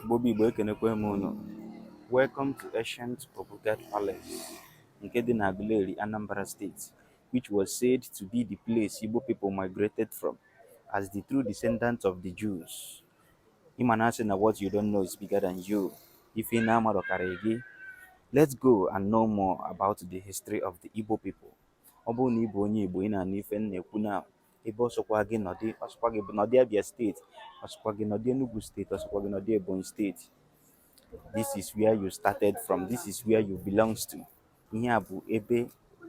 Igbo bụ Igbo ekenekwe m unu welcome to ancient Obu Gad Palace nke dị na Aguleri Anambra State which was said to be the place Igbo people migrated from as the true descendants of the Jews ị ma na a sị na what you don't know is bigger than you ife ị na-amarọ karịa gị let's go and know more about the history of the Igbo people ọ bụrụ na ị bụ onye Igbo ị na-anụ ife m na-ekwu na ebe ọ sọkwa gị nọdị ọ sọkwa gị nọdị Abia State ọ sọkwa gị nọdị Enugu State ọ sọkwa gị nọdị Ebonyi State this is where you started from this is where you belongs to ihe a bụ ebe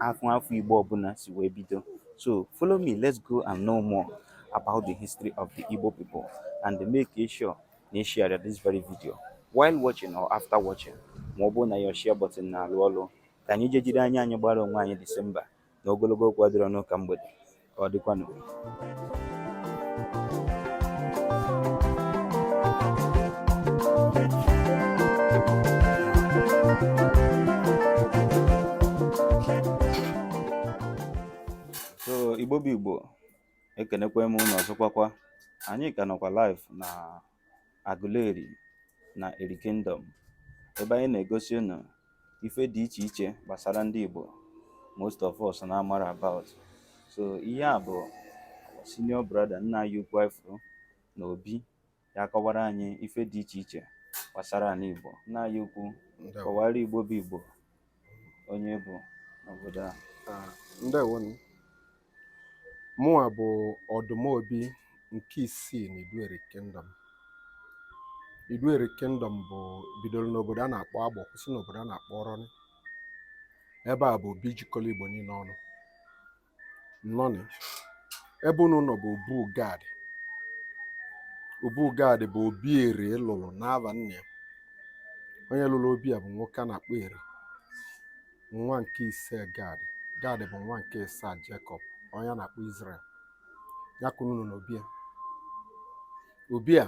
afọ afọ Igbo ọbụla si wee bido so follow me let's go and know more about the history of the Igbo people and make sure na ị share this very video while watching or after watching ma ọ bụrụ na your share button na-alụ ọlụ ka anyị jee jiri anya anyị gbara onwe anyị Disemba na ogologo okwu adịrọ n'ụka mgbede ka ọ dịkwanụ so igbo bụ igbo ekenekwa m unu ọzọkwakwa anyị ka nọkwa live na Aguleri na Eri Kingdom ebe anyị na-egosi unu ife dị iche iche gbasara ndị Igbo most of us na-amarọ about so ihe a bụ senior brother nna anyị ukwu ị fụrụ na obi ya akọwara anyị ife dị iche iche gbasara anị Igbo nna anyị ukwu kọwara Igbo bụ Igbo onye ị bụ n'obodo a ah, ndewo nụ mụnwa bụ ọdụmobi nke isii na idu eri kingdom idu eri kingdom bụ bidoro n'obodo a na-akpọ agbọ kwụsị n'obodo a na-akpọ ọrọn ebe a bụ obi jikọrọ igbo niile ọnụ nnọọ nị ebe unu nọ bụ obu gad obu gad bụ obi eri lụrụ n'ava nna ya onye lụrụ obi a bụ nwoke a na-akpọ eri nwa nke ise gad gad bụ nwa nke ịsaa jekọb onye a na-akpọ izrel ya ka unu nọ n'obi a obi a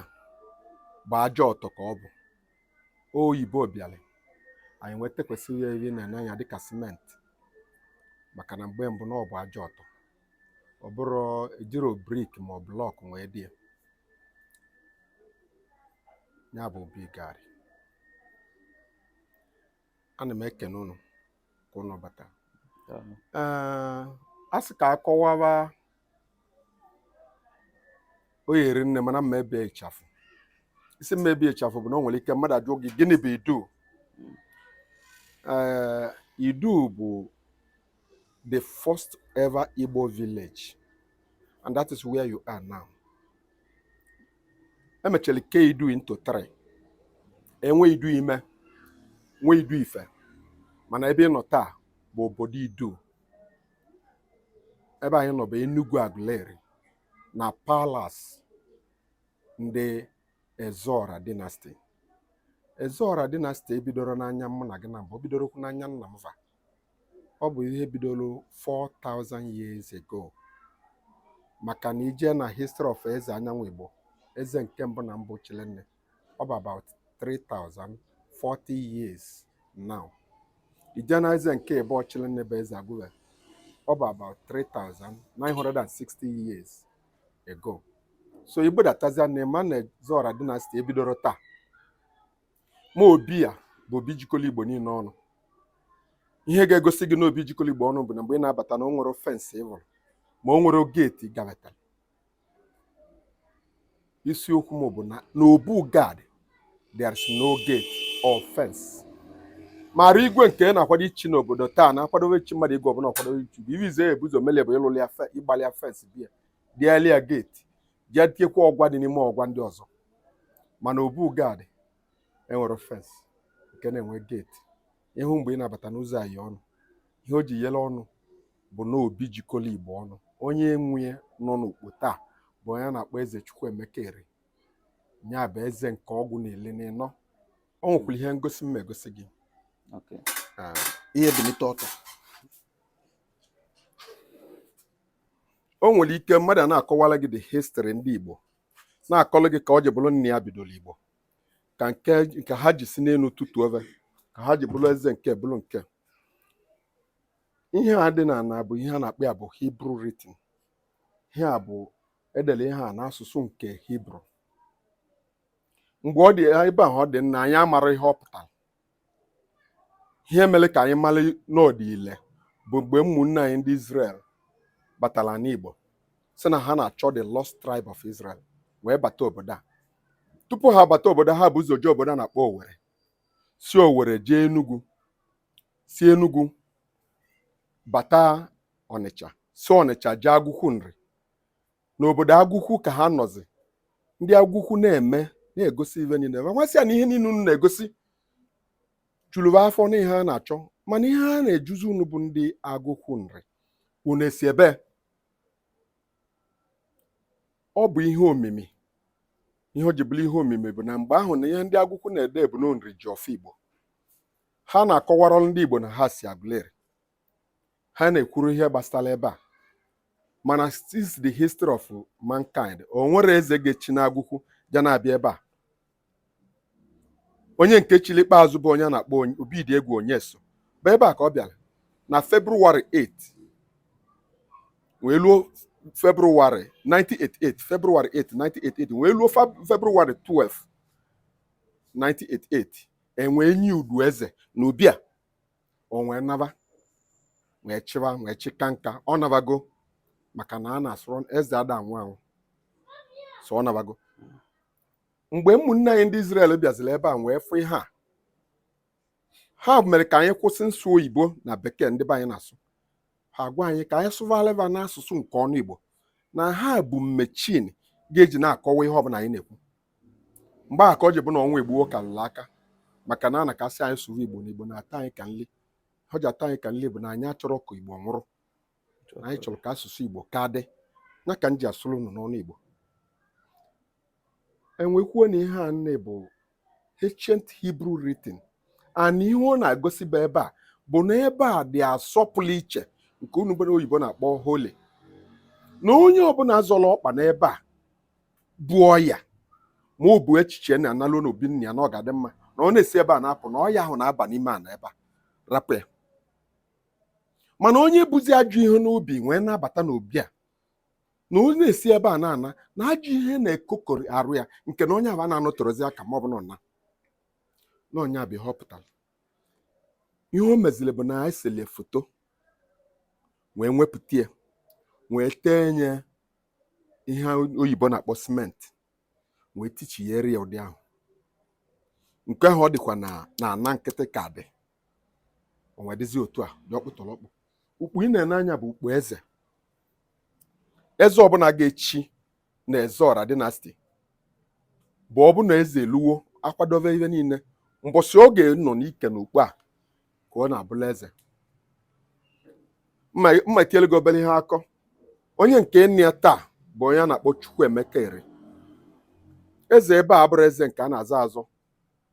bụ aja ọtọ ka ọ bụ oyibo bịara anyị wee tekwasị ya ive ị na-ene anya dịka simenti maka na mgbe mbụ na ọ bụ aja ọtọ ọ bụrọ ejirọ brik ma ọ blọk wee lụ ya ya bụ obi gad ana m ekene ụnụ ka ụnụ bata ee a sị ka a kọwaba ọ ya-eri nne mana mma ebe ịchafụ isi mma ebe ịchafụ bụ na o nwere ike mmadụ ajụọ gị gịnị bụ idu ee idu bụ the first ever Igbo village and that is where you are now. Emechara ke idu into three. Enwe idu ime, nwe idu ife. Mana ebe ị nọ taa bụ obodo Idu. Ebe anyị nọ bụ Enugwu Aguleri na palas ndị Ezeora dynasty. Ezeora dynasty ebidoro n'anya mụ na gị na mbụ, o bidorokwu n'anya nna m va. ọ bụ ihe bidoro 4000 years ago maka na i jee na history of eze Anyịamaigbo eze nke mbụ na mbụ Chilenne ọ bụ about 3040 years now i jee na eze nke ịbụọ Chilenne bụ eze Agụve ọ bụ about 3960 years ago so i budatazia na ị ma na Ezeora dynasty ebidoro taa ma obi a bụ obi jikọrọ igbo niile ọnụ ihe ga-egosi gị na obi jikọrọ igbo ọnụ bụ na mgbe ị na-abata na o nwero fensị ị hụrụ ma o nwero geeti gabatara isiokwu m bụ na n'Obu Gad there is no gate or fence mana igwe nke na-akwado ichi n'obodo taa na-akwadowe ichi mmadụ igwe ọbụla ọ kwadowe ichi bụ ive zi e bu ụzọ mele bụ ịlụlụ ya ịgbalị ya fensị bịa tiali ya geeti jee tiekwa ọgwa dị n'ime ọgwa ndị ọzọ mana Obu Gad enwero fensị nke na-enwe geeti ị hụ mgbe ị na-abata n'ụzọ a ye ọnụ ihe o ji yere ọnụ bụ na obi jikọrọ igbo ọnụ onye nwe nọ n'ukpo taa bụ onye a na-akpọ eze Chukwuemeka Eri ya bụ eze nke ọgụ na ili n'ịnọ o nwekwara ihe ngosi m egosi gị ah, i bilite ọtọ o nwere ike mmadụ ana-akọwara gị the history ndị Igbo na-akọrọ gị ka o ji bụrụ nna ya bidoro Igbo ka nke nke ha ji si n'elu tutu ebe ka ha ji bụrụ eze nke bụrụ nke ihe a dị n'ana bụ ihe a na-akpọ ya bụ Hebrew written ihe a bụ e dere ihe a n'asụsụ nke Hebrew mgbe ọ dị ebe ahụ ndị nna anyị amaro ihe ọ pụtara ihe mere ka anyị mara na ọ dị ile bụ mgbe ụmụnne anyị ndị Israel batara n'Igbo sị na ha na-achọ the lost tribe of Israel wee bata obodo a tupu ha bata obodo ha bu ụzọ jee obodo a na-akpọ Owere si Owere jee Enugu si Enugu bata Ọnịcha si Ọnịcha jee Agụkwu Nri n'obodo Agụkwu ka ha nọzi ndị Agụkwu na-eme na-egosi ive niile ma nwasị ya na ihe niile unu na-egosi juru va afọ na ihe ha na-achọ mana ihe ha na-ajụzi unu bụ ndị Agụkwu Nri unu esi ebee ọ bụ ihe omimi ihe o ji bụrụ ihe omimi bụ na mgbe ahụ na ihe ndị Agụkwu na-ede bụ na Nri ji ọfọ Igbo ha na-akọwara ndị Igbo na ha si Agụleri ha na-ekwuru ihe gbasara ebe a mana since the history of mankind o nwere eze ga-echi n'Agụkwu ja na-abịa ebe a onye nke chili ikpeazụ bụ onye a na-akpọ Obidiegwu Onyeso bụ ebe a ka ọ bịara na February 8 wee luo February 1988 February 8 1988 wee luo February 12 1988 e wee nye udu eze n'obi a o wee naba wee chịwa wee chịka nka ọ nabago maka na a na-asụrụ eze ada anwụ anwụ so ọ nabago mgbe ụmụnne anyị ndị Israel bịaziri ebe a wee fụ ihe a ha mere ka anyị kwụsị nsụ oyibo na bekee ndị be anyị na-asụ ha gwa anyị ka anyị sụvalịva n'asụsụ nke ọnụ Igbo na ha bu machine ga-eji na-akọwa ihe ọbụla anyị na-ekwu mgbe a ka o ji bụ na ọnụ Igbo ka nla aka maka na a na-akasị anyị sụva Igbo na Igbo na-atọ anyị ka nli o ji atọ anyị ka nli bụ na anyị achọrọ ka Igbo nwụrụ anyị chọrọ ka asụsụ Igbo ka dị ya ka m ji asụrụ unu n'ọnụ Igbo e wee kwuo na ihe a nne bụ ancient Hebrew writing and ihe ọ na-agosiba ebe a bụ na ebe a dị asọ pụlụ iche nke unu bere oyibo na-akpọ holy na onye ọbụla zọrọ ọkpa n'ebe a bu ọya ma ọ bụ echiche na analụ n'obi nna ya na ọ ga-adị mma na ọ na-esi ebe a na-apụ na ọya ahụ na-aba n'ime ana ebe a rapụ ya mana onye buzi ajọ ihe n'obi wee na-abata n'obi a na onye na-esi ebe a na-ana na ajọ ihe na-ekokọrị arụ ya nke na onye ahụ a na-anọterozi aka ma ọ bụ na ọna na onye abịa ihe ọ pụtara ihe o meziri bụ na anyị sele foto wee wepụta ya wee tenye ihe oyibo na-akpọ simenti wee techigharịa ụdị ahụ nke ahụ ọ dịkwa na ana nkịtị ka dị o wee dịzi otu a dị ọkpụtọrọkpụ ukpo ị na-ene anya bụ ukpo eze eze ọbụla ga-echi na Ezeọra dynasty bụ ọ bụ na eze eluwo akwadobe ihe niile mbọsị oge nọ n'ike n'ukpo a ka ọ na-abụlụ eze mma etiele gị obere ihe akọ onye nke nọ na ya taa bụ onye a na-akpọ Chukwuemeka Eri eze ebe a abụrọ eze nke a na-azọ azọ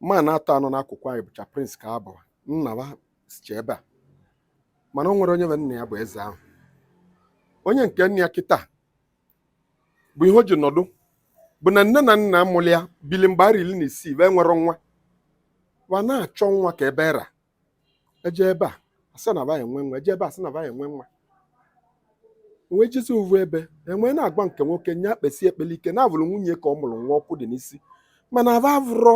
mma na-atọ a nọ n'akụkụ anyị bụcha prince ka a bụrụ nna ha sicha ebe a mana o nwere onye be nna ya bụ eze ahụ onye nke nọ na ya kịta bụ ihe o ji nọdụ bụ na nne na nna mụrụ ya bili mgbe arọ iri na isii wa enwerọ nwa wa na-achọ nwa ka ebe era e jee ebe a a sị na ba enwe nwa e jee ebe a sị na ba enwe nwa wee jezi uvu ebe e nwee na-agwa nke nwoke nya kpesie ekpele ike na a vụrụ nwunye ka ọ mụrụ nwa ọkụ dị n'isi mana aba avụrọ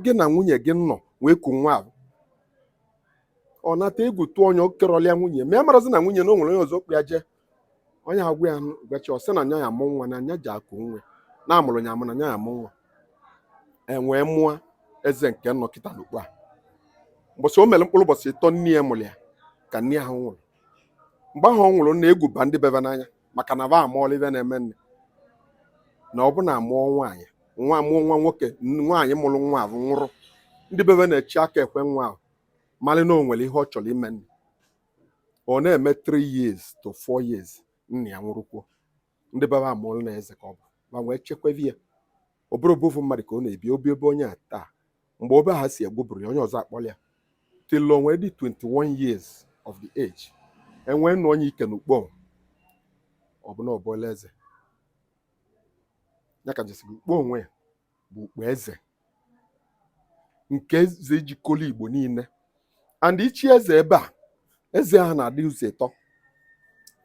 gị na nwunye gị nọ wee ku nwa ahụ ọ nata egwu tụọ onye okerọlịa nwunye ma ya marazi na nwunye na o nwere onye ọzọ kpọ ya jee onye ha gwa ya gachi ọ sị na nya ya-amụ nwa na nya ji akụ nwe na a mụrụ nya amụ na nya ya-amụ nwa e nwee mụọ eze nke nọ kịta n'ukpo a mbọsị o mere mkpụrụ ụbọchị ịtọ nne ya mụrụ ya ka nne ahụ nwụrụ mgbe ahụ ọ nwụrụ na egwu ba ndị bebe n'anya maka na va amaala ive na-eme nne na ọ bụ na a mụọ nwaanyị nwa a mụọ nwa nwoke nwaanyị mụrụ nwa ahụ nwụrụ ndị bebe na-echi aka ekwe nwa ahụ malị na o nwere ihe ọ chọrọ ime nne ọ na-eme 3 years to 4 years nna ya nwụrụkwuo ndị be ba amaala na eze ka ọ bụ ba wee chekwavi ya ọ bụrọ obu ovu mmadụ ka ọ na-ebi o bi ebe onye a taa mgbe obe ha si egwuburu ya onye ọzọ akpọrọ ya till o nwee dị 21 years of the age e nwee nọnye ike n'ukpo ọ bụ na ọ bụla eze ya ka jesi ukpo onwe ya bụ ukpo eze nke eze jikọrọ Igbo niile and ichi eze ebe a eze ahụ na-adị ụzọ ịtọ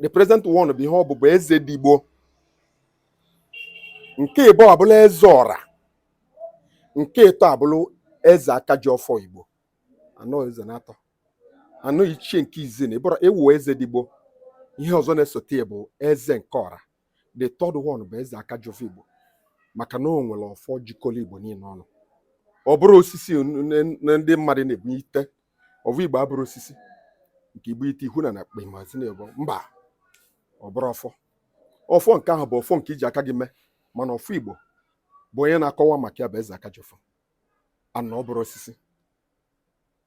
the present one bụ ihe ọ bụ bụ Ezedigbo nke ịbụa abụlụ eze ọra nke ịtọ abụrụ eze aka ji ọfọ Igbo anọ eze na atọ anọ ichie nke izi na ịbụrụ ewu Ezedigbo ihe ọzọ na-esote bụ eze nke ọra the third one bụ eze aka ji ọfọ igbo maka na o nwere ọfọ jikọrọ igbo niile ọnụ ọ bụrọ osisi na ndị mmadụ na-ebunyite ọvọ igbo abụrọ osisi nke i bunite ihu na na akpa imazi na ebo mba ọ bụrọ ọfọ ọfọ nke ahụ bụ ọfọ nke i ji aka gị mee mana ọfọ igbo bụ onye na-akọwa maka ya bụ eze aka ji ọfọ na ọ bụrọ osisi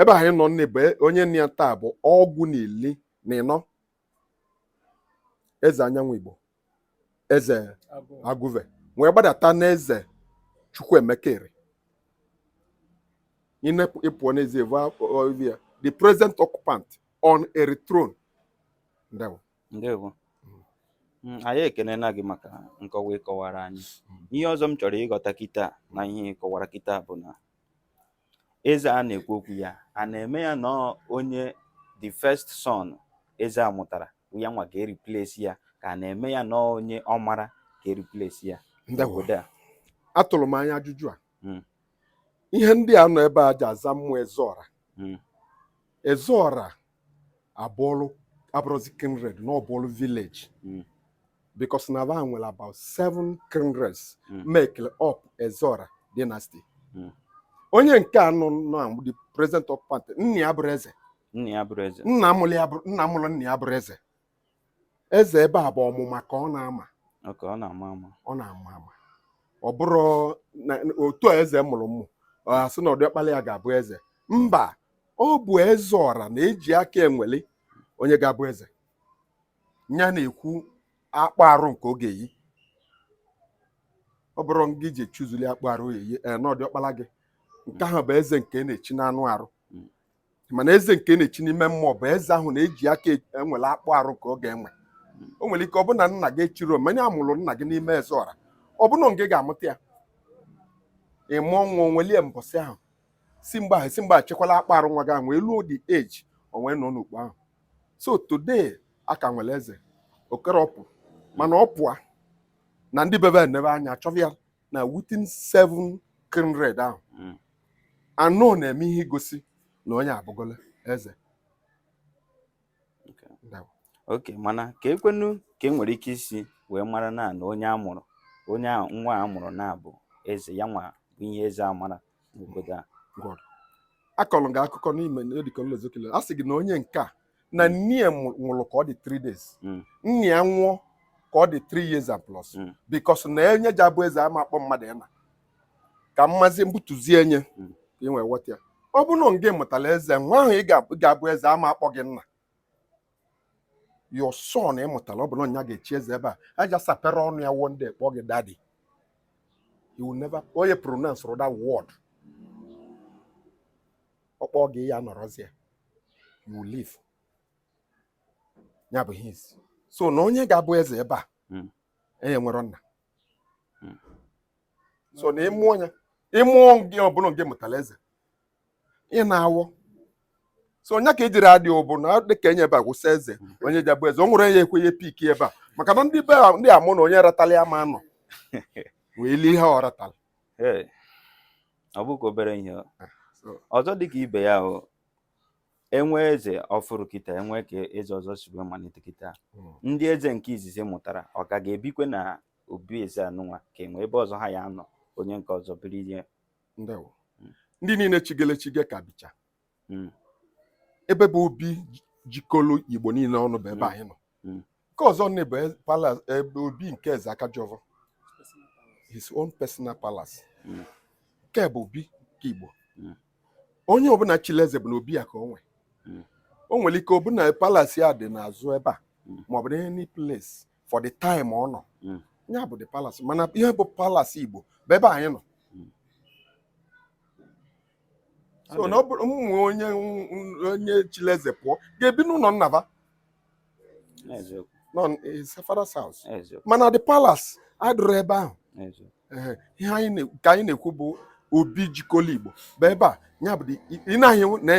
ebe anyị nọ nne bụ e, onye nọ na ya taa bụ ọgụ na ili na ịnọ eze Anyiamigbo eze Agụve wee gbadata n'eze Chukwuemeka Eri ị pụọ n'ezi ị vụ ya the present occupant on a throne ndewo ndewo mm, anyị ekenena gị maka nkọwa ị kọwara anyị mm. ihe ọzọ m chọrọ ịghọta kịta na ihe ị kọwara kịta bụ na Eze a na-ekwu okwu ya a na-eme ya na ọ onye the first son eze a mụtara ya nwa ga-ereplace ya ka a na-eme ya na ọ onye ọ mara ga-ereplace ya obodo a atụrụ m anya ajụjụ a hmm. ihe ndị a nọ ebe a ji aza ụmụ ezeọra hmm. ezeọra abụọlụ abụrụzi kindred na ọbụọlụ village mm. because na ba nwere about seven kindreds mm. make up Ezeọra dynasty mm. onye nke a nọ na the present occupant nna ya bụrụ eze nna mụrụ nna ya bụrụ eze eze ebe a bụ ọmụma ka ọ na-ama ọ na-ama ama ọ na-ama ama ọ bụrọ otu a eze mụrụ ụmụ a sị na ọdịọkpala ya ga-abụ eze mba ọ bụ Ezeọra na-eji aka enweli onye ga-abụ eze ya na-ekwu akpụ arụ nke oge yi ọ bụrụ gị ji chụzuli akpụ arụ eyi ee na ọdịọkpala gị nke ahụ bụ eze nke na-echi n'anụ arụ mana eze nke na-echi n'ime mmụọ bụ eze ahụ na-eji aka enwere akpụ arụ ka ọ ga-enwe o nwere ike ọ bụ na nna gị echirọ mana a mụrụ nna gị n'ime Ezeọra ọ bụ na gị ga-amụta ya ị mụọ nwa o nwelie mbọsị ahụ si mgbe ahụ si mgbe achekwala akpa arụ nwa gị ahụ wee luo the age o nwee nọ n'okpu ahụ so today a ka nwere eze okerọpụ mana ọ pụa na ndị be ba enebe anya chọba ya na within seven kindred ahụ hmm. a nọ na-eme ihe igosi na onye abụgola eze ok mana ka ekwenu ka e nwere ike isi wee mara na na onye a mụrụ onye nwa a mụrụ na-abụ eze ya nwa bụ ihe eze a mara n'obodo a a kọrọ gị akụkọ n'ime edikọlozokele a sị gị na onye nke a na mm. nne ya nwụrụ ka ọ dị 3 days mm. nna ya nwụọ ka ọ dị 3 years and plus mm. because na enye ji abụ eze ama akpọ mmadụ nna ka mmazi mbutuzi enye ka ị nwee ghọta ya ọ bụrụ na gị mụtara eze nwa ahụ ga-abụ eze ama akpọ gị nna your son ị mụtara ọ bụrụ na ya ga-echi eze ebe a aja sapere ọnụ ya one day kpọọ gị daddy he will never pronounce that word ọ kpọ gị ya ị nọrọzi alive ya bụ ihe isi so na onye ga-abụ eze ebe a hmm. enye nwere nna hmm. so na ị mụọ ya ị mụọ gị ọ bụ na gị mụtara eze ị na-anwụ so nya ka e jiri adị ụbụ na dịka enye ebe a gwụsị eze hmm. onye ji abụ eze o nwere ya ekwenye pik ebe a maka na ndị be ndị amụ na onye ratala ya ma nọ wee lie ihe ọ ratala ọ bụghị obere ihe ah, ọzọ dị ka ibe ya o e nwee eze ọfụrụ kịta e nwee ka eze ọzọ si wee malite kịta hmm. ndị eze nke izizi mụtara ọ ka ga-ebikwe na obi eze anụnwa ka e nwe ebe ọzọ ha ya anọ onye nke ọzọ biri ihe hmm. ndị niile chigele chige ka bicha hmm. ebe bụ obi jikọlụ igbo niile ọnụ bụ ebe hmm. anyị nọ hmm. nke ọzọ nne bụ e, ebe obi nke eze aka ji ọvọ his own personal palace nke bụ obi nke igbo onye ọbụna chili eze bụ na obi ya ka o nwe o nwere ike ọ bụ na palace ya dị n'azụ ebe a maọbụ na any place for the time ọ nọ ya bụ the palace mana ihe bụ palace igbo bụ ebe anyị nọ so na ọ bụrụ ụmụ onye onye chili eze pụọ ga-ebi n'ụlọ nna va nọ his father's house mana the palace adụrụ ebe ahụ ihe anyị ka anyị na-ekwu bụ obi jikọlụ igbo bụ ebe a ya bụ ị na-ahụ na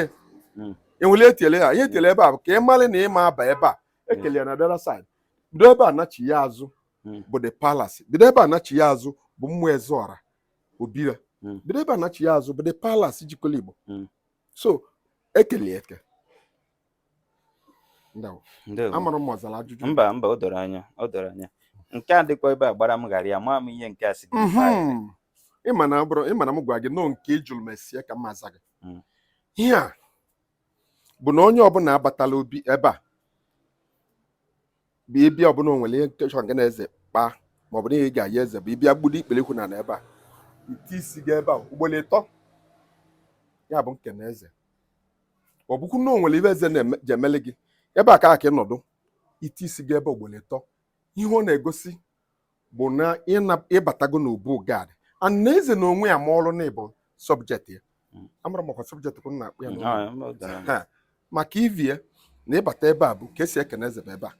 hmm. enwele etele ya ihe etele ebe a bụ ka ị mara na ịma aba ebe a ekele ya na the other side bido ebe a nachi ya azụ hmm. bụ the palace bido ebe a nachi ya azụ bụ ụmụ ezeọra obi ya hmm. bido ebe a nachi ya azụ bụ the palace jikọlụ igbo hmm. so e kele ya eke amarọ m ọ zara ajụjụ mba mba o doro anya o doro anya nke a dịkwa ebe a gbara m gharịị amaghị m ihe nke a si mhm. ịma na bụrụ ịma na m gwa gị na ọ nke ị jụrụ m ese ya ka m aza gị hmm. ihe a bụ na onye ọbụna batala obi ebe a bụ ị bịa ọ bụ na o nwere ihe ị chọ ngị na eze kpaa maọbụ na ihe ị ga-ayọ eze bụ ị bịa gbudo ikpeli ụkwụ na ebe a i tie isi gị ebe a ugboro ịtọ ya bụ ikene eze ọ bụkwu na o nwere ive eze je emele gị ebe a ka ị ga-anọdụ i tie isi gị ebe a ugboro ịtọ ihe ọ na-egosi bụ na ị batago n'obu gad and na eze na onwe ya marụ na ị bụ subject ya hmm. amarọ m ọkwa subject ka unu na-akpọ ya hmm, ah, maka ivi ya na ị bata ebe a bụ ka esi ekene eze bụ ebe a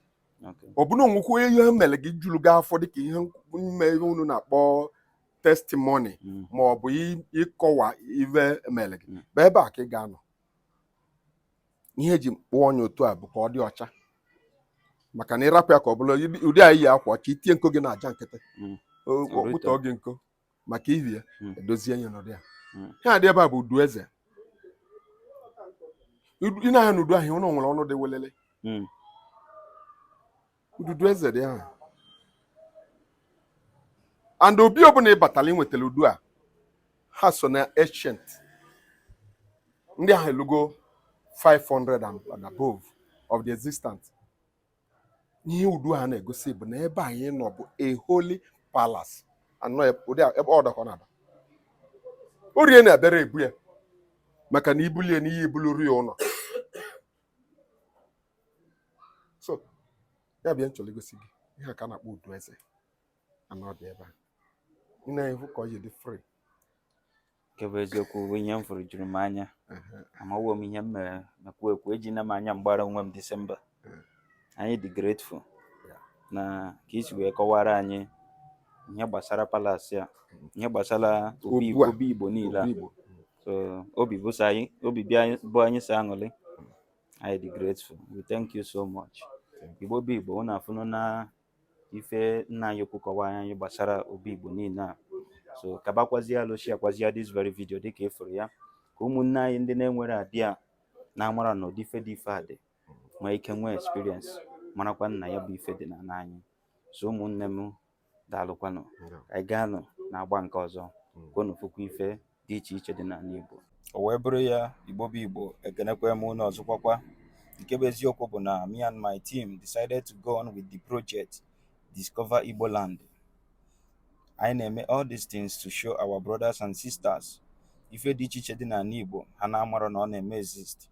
ọ bụ na o nwekwu ihe mere gị juru gị afọ dịka ihe ime ihe unu na-akpọ testimony hmm. ma ọ bụ ịkọwa ive mere gị bụ ebe a ka ị ga-anọ ihe eji kpụọ nya otu a bụ ka ọ dị ọcha maka na ị rapụ ya ka ọ bụlụ ụdị anyị yi akwa ọcha i tinye nko gị na aja nkịtị hmm. ọ kpụtọ gị nko maka ihi ya hmm. edozie ya n'ụdị a hmm. ihe a dị ebe a bụ udu eze ị na-ahụ na udu ahụ o nwere ọnụ dị welele ududu eze dị ahụ and obi ọbụna ị batara i nwetara udu a ha so na ancient ndị ahụ elugo 500 and above of the existence ihe udu a na-egosi bụ na ebe anyị nọ bụ a holy palace and ụdị ebe ọ dọkọ na aba orie na-abịara ebu ya maka na i bulie nya i bulu ọrịa ụnọ so ya bịa m chọrọ igosi gị ihe a ka a na-akpọ udu eze anọ dị ebe a ị na-afụ ka o ji dị free nke bụ eziokwu bụ ihe m fụrụ juru m anya amawo m ihe m mere mekwu ekwu ejina m anya m gbara onwe m disemba anyị dị grateful na ka i si wee kọwara anyị ihe gbasara palace a ihe gbasara obi igbo niile a so obi bụ anyị sọ aṅụrị anyị dị grateful we thank you so much igbo bụ igbo unu afụna ife nna anyị ukwu kọwara anyị gbasara obi igbo niile a so kabakwazie alụ sharekwazia this very video dịka ị fụrụ ya ka ụmụnne anyị ndị na-enwerọ idea na-amarọ na ụdị ife dị ife a dị nwee ike nwee experience marakwa na ya bụ ife dị n'anị anyị so ụmụnne m daalụkwanụ ka anyị ga-anọ na-agba nke ọzọ ka unu fụkwa ife dị iche iche dị n'anị Igbo o wee bụrụ ya Igbo bụ Igbo ekenekwa m unu ọzọkwakwa nke bụ eziokwu bụ na me and my team decided to go on with the project Discover Igbo Land anyị na-eme all these things to show our brothers and sisters ife dị iche iche dị n'anị Igbo ha na-amarọ na ọ na-eme exist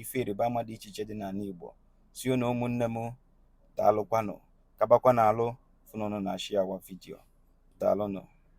ife ịrịba ama dị iche iche dị n'anị Igbo si na ụmụnne m daalụkwanụ kabakwa n'alụ fụ na unu na-share our video daalụnụ